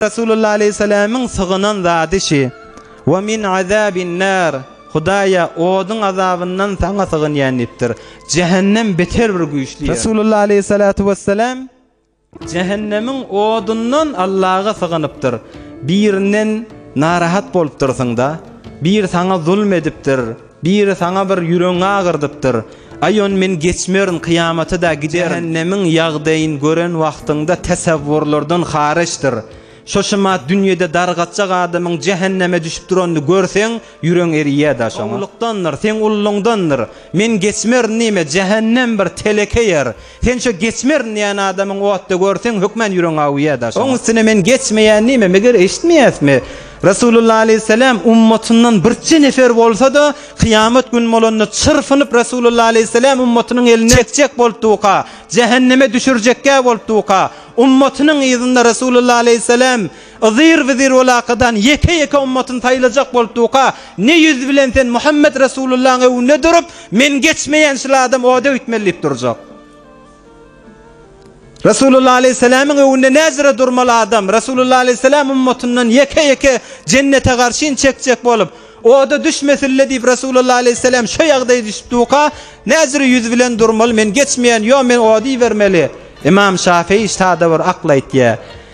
Resulullah aleýhiselämiň sygynan zady şi, Wa min azabin nar, Hudaýa, oduň azabyndan Saňa sygynýan diýipdir. Jähennem beter bir güýçli ýer. Resulullah aleýhisalatu wesselam jähennemiň odundan Allaha sygynypdyr. Birinden narahat bolupdyrsyň-da, bir saňa zulm edipdir. Biri saňa bir ýüregiňi agyrdypdyr. Aý ony men geçmerin kyýamata-da giderin. Jähennemiň ýagdaýyn gören wagtyňda täsewwurlardan haryçdyr. Şo-şumat dünýede dargatjak adamyň jähenneme düşüp duranyny görseň, ýüregiň eriýär-dä şoňa. Ululykdandyr, seň ulluňdandyr. Men geçmerin diýme, jähennem bir teleke ýer. Sen şo geçmerin diýýän adamyň otda görseň hökman ýüregiň awuýýa daşyna. Oň üstüne men geçmeýän diýme, meger eşitmeýäsmi? Resulullah aleýhissalam ummatyndan birçe nefer bolsa-da kyýamat gün bolanda çyrpynyp Resulullah aleýhissalam ummatynyň elinden çekjek bolupdyka, jähenneme düşürjekkä bolupdyka, ummatynyň yzynda Resulullah aleýhissalam Yzyr wezir ol akadan ýeke-ýeke ymmatyny saýlajak bolup duka, ne ýüz bilen sen Muhammet Resulyllaň öwünde durup, men geçmeýän şul adam oda öýtmeli diýip durjak. Resulullah aleýhissalamyň öwünde näzire durmaly adam, Resulullah aleýhissalam ymmatyndan ýeke-ýeke jennete garşyn çekjek bolup, oda düşmesille diýip Resulullah aleýhissalam şo ýagdaýa düşüp duka, näzire ýüz bilen durmaly, men geçmeýän, ýo men ody ibermeli. Ymam Şafyýy sada bir akly aýtýar.